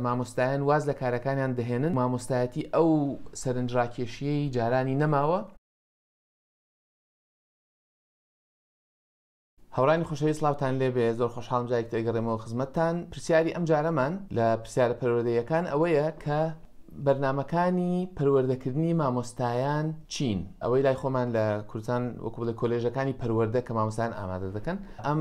مامۆستایان واز لە کارەکانیان دەهێنن، مامۆستایەتی ئەو سەرنجڕاکێشییەی جارانی نەماوە. هاوڕێیانی خۆشەویست سڵاوتان لێبێ، زۆر خۆشحاڵم جارێکی تر ئەگەڕێمەوە خزمەتتان، پرسیاری ئەم جارەمان لە پرسیارە پەروەردەییەکان ئەوەیە کە بەرنامەکانی پەروەردەکردنی مامۆستایان چین؟ ئەوەی لای خۆمان لە کوردستان وەکو بڵێ کۆلێژەکانی پەروەردە کە مامۆستایان ئامادە دەکەن ئەم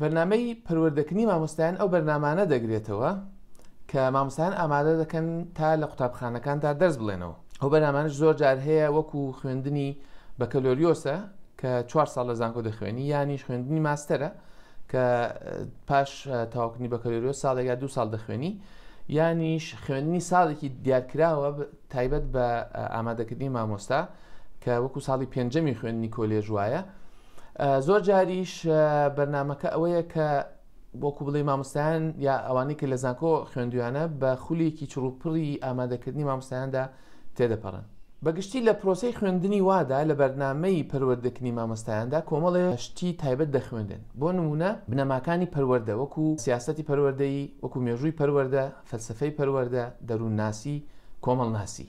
بەرنامەی پەروەردەکردنی مامۆستایان ئەو بەرنامانە دەگرێتەوە کە مامۆستایان ئامادە دەکەن تا لە قوتابخانەکاندا دەرس بڵێنەوە ئەو بەرنامانش زۆر جار هەیە وەکو خوێندنی بەکەلۆریۆسە کە چوار ساڵ لە زانکۆ دەخوێنی یانیش خوێندنی ماستەرە کە پاش تاوکردنی بەکەلۆریۆس ساڵێک یا دو ساڵ دەخوێنی یانیش خوێندنی ساڵێکی دیارکراوە تایبەت بە ئامادەکردنی مامۆستا کە وەکو ساڵی پێنجەمی خوێندنی کۆلێژ وایە زۆر جاریش بەرنمەکە ئەوەیە کە بۆکو بڵێ مامۆستایان یا ئەوانەی کە لە زانکۆ خوێندویانە بە خولێکی چڕوپڕی ئامادەکردنی مامۆستایاندا تێدەپەڕن بەگشتی لە پرۆسی خوێندنی وادا لە بەرنمەی پەروەردەکنی مامۆستایاندا کۆمەڵێ شتی تایبەت دەخوێندن بۆ نمونە بنەماکانی پەروەەردە وەکو سیاستی پەروەەردەی وەکو مێژووی پەروەەردە فەلسفەی پەروەەردە دەروونناسی کۆمەڵناسی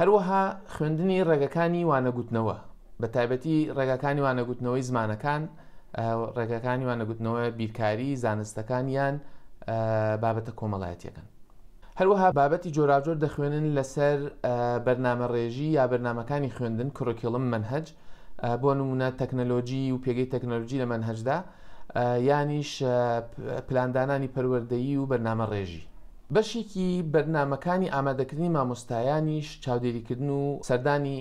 هەروەها خوێندنی ڕێگەکانی وانەگوتنەوە بە تایبەتی ڕێگاکانی وانەگوتنەوەی زمانەکان ڕێگەکانی وانەگوتنەوە بیرکاری زانستەکان یان بابەتە کۆمەڵایەتیەکەن هەروەها بابەتی جۆراجۆر دەخوێنن لەسەر بەرنامە ڕێژی یا بەرنمەکانی خوێندن کرۆکیڵم منهج بۆ نمونە تەکنەلۆجی و پێگەی تەکنەلۆجی لە مەنهەجدا یانیش پلاندانانی پەروەردەیی و بەرنامە ڕێژی بەشێکی بەرنمەکانی ئامادەکردنی مامۆستایانیش چاودێریکردن و سەردانی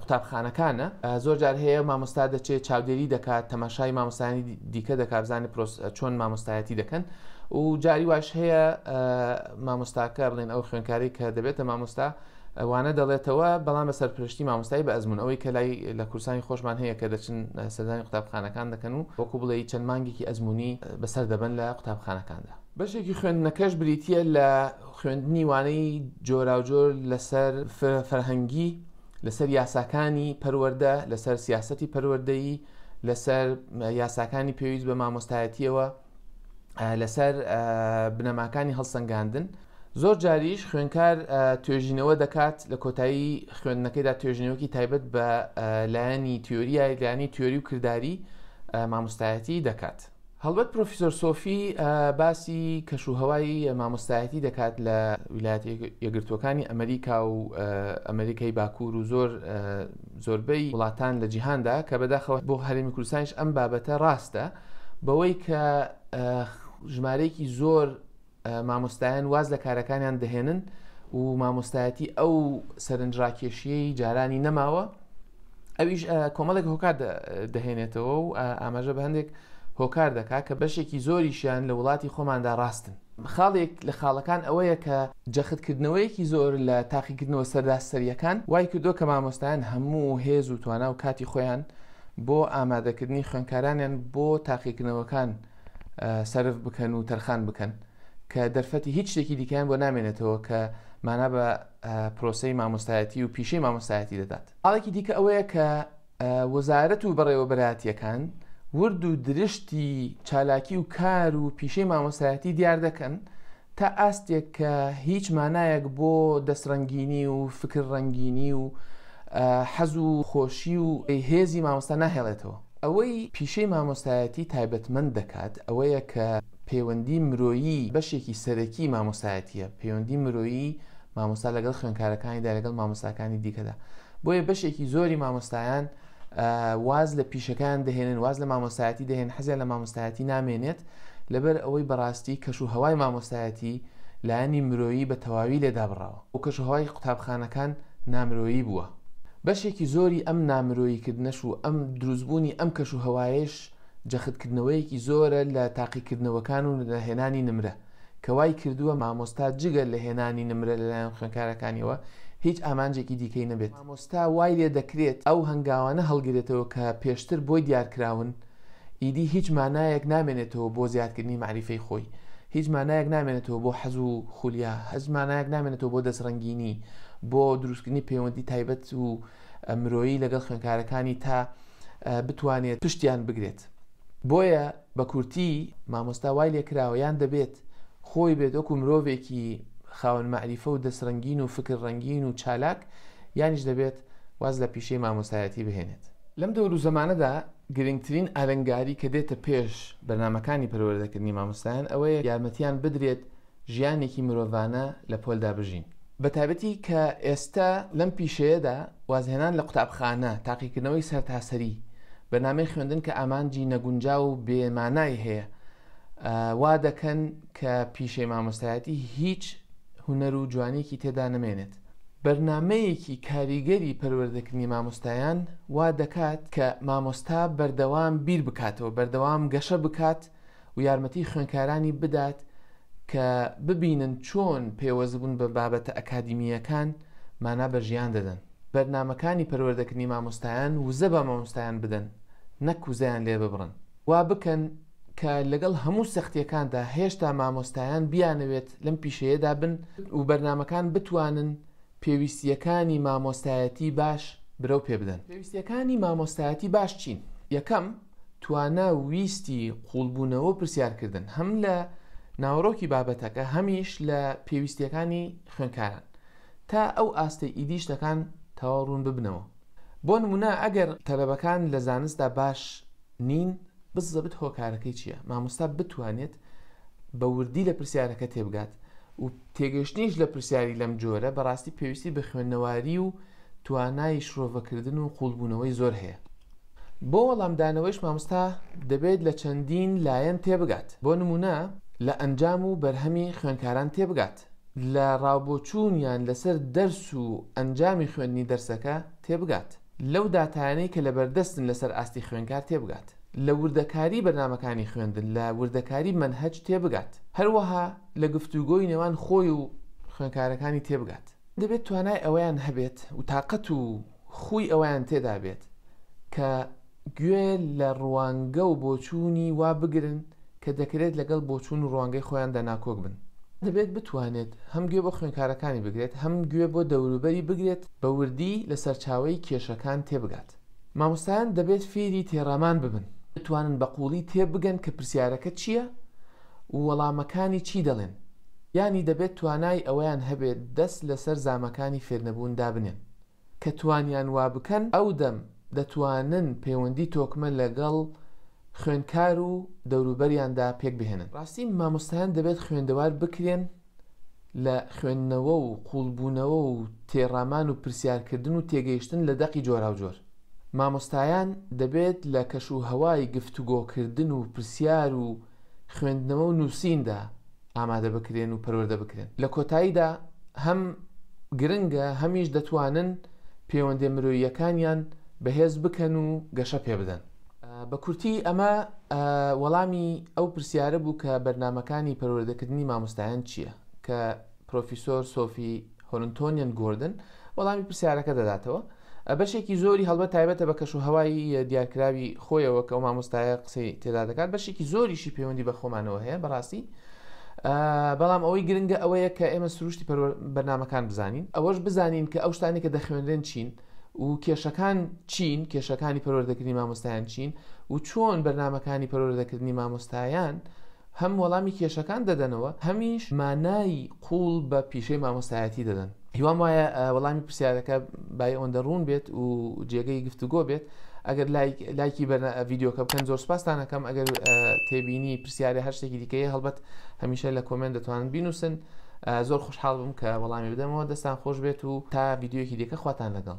قوتابخانەکانە زۆر جار هەیە مامۆستا دەچێت چاودێری دەکات تەماشای مامۆستانی دیکە دەکبزانانی پرۆس چۆن مامۆستایەتی دەکەن و جاری واش هەیە مامۆستاکە بڵێن ئەو خوێنکاری کە دەبێتە مامۆستا وانە دەڵێتەوە، بەڵام بە سەرپەرشتی مامۆستای بە ئەزموون، ئەوەی کە لای لە کوردستانی خۆشمان هەیە کە دەچن سەردانی قوتابخانەکان دەکەن و وەکوو بڵێی چەند مانگێکی ئەزموونی بە سەر دەبەن لە قوتابخانەکاندا. بەشێکی خوێندنەکەش بریتییە لە خوێندنی وانەی جۆراوجۆر لە سەر فەرهەنگی، لە سەر یاساکانی پەروەردە، لە سەر سیاسەتی پەروەردەیی، لە سەر یاساکانی پێویست بە مامۆستایەتییەوە، لەسەر بنەماکانی هەڵسەنگاندن زۆر جاریش خوێنکار توێژینەوە دەکات لە کۆتایی خوێندنەکەیدا توێژینەوەکی تایبەت بە لایەنی تیۆریایگانی تیۆری و کردداری مامۆستایەتی دەکات. هەڵبەت پرۆفیسۆر سۆفی باسی کەش و هەوای مامۆستایەتی دەکات لە ویلایەت یەگرتوەکانی ئەمریکا و ئەمریکای باکوور و زۆر زۆربەی وڵاتان لە جیهاندا کە بەداخەوە بۆ هەرمی کوردستانش ئەم بابەتە ڕاستە بەوەی کە ژمارەیەکی زۆر مامۆستایان واز لە کارەکانیان دەهێنن و مامۆستایەتی ئەو سەرنجڕاکێشیەی جارانی نەماوە ئەویش کۆمەڵێک هۆکار دەهێنێتەوە و ئاماژە بە هەندێک هۆکار دەکات کە بەشێکی زۆریشیان لە وڵاتی خۆماندا ڕاستن خاڵێک لە خاڵەکان ئەوەیە کە جەختکردنەوەیەکی زۆر لە تاقیکردنەوە سەردا سەریەکان وای کردو کە مامۆستایان هەموو هێز و توانا و کاتی خۆیان بۆ ئامادەکردنی خوێندکارانیان بۆ تاقیکردنەوەکان سەرف بکەن و تەرخان بکەن کە دەرفەتی هیچ شتێکی دیکەیان بۆ نامێنێتەوە کە مانا بە پرۆسی مامۆستایەتی و پیشەی مامۆستایەتی دەدات ئاڵێکی دیکە ئەوەیە کە وەزارەت و بەڕێوەبەراتیەکان ورد و درشتی چالاکی و کار و پیشەی مامۆستایەتی دیار دەکەن تا ئاستێک کە هیچ مانایەک بۆ دەستڕەنگینی و فکر ڕەنگینی و حەز و خۆشی و هێزی مامۆستا ناهێڵێتەوە. ئەوەی پیشەی مامۆستایەتی تایبەتمەند دەکات ئەوەیە کە پەیوەندی مرۆیی بەشێکی سەرەکی مامۆستایەتییە، پەیوەندی مرۆیی مامۆستا لەگەڵ خوێنکارەکانیدا لەگەڵ مامۆستاکانی دیکەدا، بۆیە بەشێکی زۆری مامۆستایان، واز لە پیشەکەیان دەهێنن واز لە مامۆستایەتی دەهێن حەزیان لە مامۆستایەتی نامێنێت لەبەر ئەوەی بەڕاستی کەش و هەوای مامۆستایەتی لایەنی مرۆیی بە تەواوی لێدابڕاوە و کەش و هەوای قوتابخانەکان نامرۆیی بووە بەشێکی زۆری ئەم نامرۆییکردنەش و ئەم دروستبوونی ئەم کەش و هەوایش جەختکردنەوەیەکی زۆرە لە تاقیکردنەوەکان و نەهێنانی نمرە کە وای کردووە مامۆستا جگە لە هێنانی نمرە لەلایەن خوێنکارەکانیەوە هیچ ئامانجێکی دیکەی نەبێت، مامۆستا وای لێ دەکرێت ئەو هەنگاوانە هەڵگرێتەوە کە پێشتر بۆی دیارکراون، ئیدی هیچ مانایەک نامێنێتەوە بۆ زیادکردنی مەعریفەی خۆی، هیچ مانایەک نامێنێتەوە بۆ حەز و خولیا، هیچ مانایەک نامێنێتەوە بۆ دەستڕەنگینی، بۆ دروستکردنی پەیوەندی تایبەت و مرۆیی لەگەڵ خوێنکارەکانی تا بتوانێت پشتیان بگرێت. بۆیە بە کورتی مامۆستا وای لێکراوە یان دەبێت خۆی بێت وەکو مرۆڤێکی خاوەن مەعریفە و دەست رەنگین و فکر رەنگین و چالاک یانیش دەبێت واز لە پیشەی مامۆستایەتی بهێنێت. لەم دەورو زەمانەدا گرنگترین ئالنگاری کە دێتە پێش بەرنامەکانی پەروەردەکردنی مامۆستایان ئەوەیە یارمەتیان بدرێت ژیانێکی مرۆڤانە لە پۆلدا بژین. بە تایبەتی کە ئێستە لەم پیشەیەدا وازهێنان لە قوتابخانە، تاقیکردنەوەی سەرتاسەری، بە نامەی خوێندن کە ئامانجی نەگونجاو و بێ مانای هەیە، وا دەکەن کە پیشەی مامۆستایەتی هیچ هونەر و جوانییەکی تێدا نەمێنێت. بەرنامەیەکی کاریگەری پەروەردەکردنی مامۆستایان وا دەکات کە مامۆستا بەردەوام بیر بکاتەوە، بەردەوام گەشە بکات، و یارمەتی خوێندکارانی بدات کە ببینن چۆن پەیوەستبوون بە بابەتە ئەکادیمییەکان مانا بە ژیان دەدەن. بەرنامەکانی پەروەردەکردنی مامۆستایان وزە بە مامۆستایان بدەن نەک وزەیان لێ ببڕن. وا بکەن کە لەگەڵ هەموو سەختییەکاندا هێشتا مامۆستایان بیانەوێت لەم پیشەیەدا بن و بەرنامەکان بتوانن پێویستییەکانی مامۆستایەتی باش برەو پێ بدەن. پێویستییەکانی مامۆستایەتی باش چین؟ یەکەم. توانا و ویستی قووڵبوونەوە و پرسیارکردن هەم لە ناوەڕۆکی بابەتەکە هەمیش لە پێویستیەکانی خوێنکاران تا ئەو ئاستەی ئیدی شتەکان تەواو ڕوون ببنەوە بۆ نمونە ئەگەر تەلەبەکان لە زانستدا باش نین بزەبت هۆکارەکەی چییە مامۆستا بتوانێت بە وردی لە پرسیارەکە تێبگات و تێگەشتنیش لە پرسیاری لەم جۆرە بەڕاستی پێویستی بە خوێندنەواری و توانای شرۆڤەکردن و قووڵبوونەوەی زۆر هەیە. بۆ وەڵامدانەوەیش مامۆستا دەبێت لە چەندین لایەن تێبگات، بۆ نموونە لە ئەنجام و بەرهەمی خوێندکاران تێبگات، لە ڕاوبۆچوونیان لەسەر دەرس و ئەنجامی خوێندنی دەرسەکە تێبگات، لەو داتایانەی کە لەبەردەستن لەسەر ئاستی خوێندکار تێبگات، لە وردەکاری بەرنامەکانی خوێندن، لە وردەکاری مەنهەج تێبگات. هەروەها لە گفتوگۆی نێوان خۆی و خوێنکارەکانی تێبگات. دەبێت توانای ئەوەیان هەبێت و تاقەت و خووی ئەوەیان تێدا بێت کە گوێ لە ڕوانگە و بۆچوونی وا بگرن کە دەکرێت لەگەڵ بۆچوون و ڕوانگەی خۆیاندا ناکۆک بن. دەبێت بتوانێت هەم گوێ بۆ خوێنکارەکانی بگرێت، هەم گوێ بۆ دەوروبەری بگرێت، بە وردی لە سەرچاوەی کێشەکان تێبگات. مامۆستایان دەبێت فێری تێڕامان ببن، بتوانن بە قووڵی تێبگەن کە پرسیارەکە چییە و وەڵامەکانی چی دەڵێن، یانی دەبێت توانای ئەوەیان هەبێت دەست لەسەر زامەکانی فێرنەبوون دابنێن. کە توانیان وا بکەن، ئەو دەم دەتوانن پەیوەندی تۆکمە لەگەڵ خوێندکار و دەوروبەریاندا پێکبهێنن. ڕاستی مامۆستایان دەبێت خوێندەوار بکرێن لە خوێندنەوە و قووڵبوونەوە و تێڕامان و پرسیارکردن و تێگەیشتن لە دەقی جۆراوجۆر. مامۆستایان دەبێت لە کەش و هەوای گفتوگۆکردن و پرسیار و خوێندنەوە و نووسیندا ئامادە بکرێن و پەروەردە بکرێن. لە کۆتاییدا هەم گرنگە هەمیش دەتوانن پێوەندیە مرۆییەکانیان بەهێز بکەن و گەشە پێبدەن. بە کورتی ئەمە وەڵامی ئەو پرسیارە بوو کە بەرنمەکانی پەروەردەکردنی مامۆستایان چییە کە پرۆفیسۆر سۆفی هۆرنتۆنیان گۆردن وەڵامی پرسیارەکە دەداتەوە بەشێکی زۆری هەڵبەت تایبەتە بە کەش و هەوای دیارکراوی خۆیەوە کە ئەو مامۆستایە قسەی تێدا دەکات بەشێکی زۆریشی پەیوەندی بە خۆمانەوە هەیە بەڕاستی بەڵام ئەوەی گرنگە ئەوەیە کە ئێمە سروشتی بەرنمەکان بزانین ئەوەش بزانین کە ئەو شتانی کە دەخوێنرێن چین و کێشەکان چین کێشەکانی پەروەردەکردنی مامۆستایان چین و چۆن بەرنمەکانی پەروەردەکردنی مامۆستایان هەم وەڵامی کێشەکان دەدەنەوە هەمیش مانایی قوڵ بە پیشەی مامۆستایەتی دەدەن هیوام وایە وەڵامی پرسیارەکە بای ئەوەندە ڕوون بێت و جێگەی گفتوگۆ بێت ئەگەر لایکی بەرە ڤیددیوکە بکەن زۆر سپاستانەکەم ئەگەر تێبینی پرسیارە هەر شتێکی دیکەیە هەڵبەت هەمیشە لە کۆمێنت دەتوانن بینوسن زۆر خوشحاڵ بم کە وەڵامی بدەمەوە دەستان خۆش بێت و تا ڤیددیوەکی دیکە خواتان لەگەڵ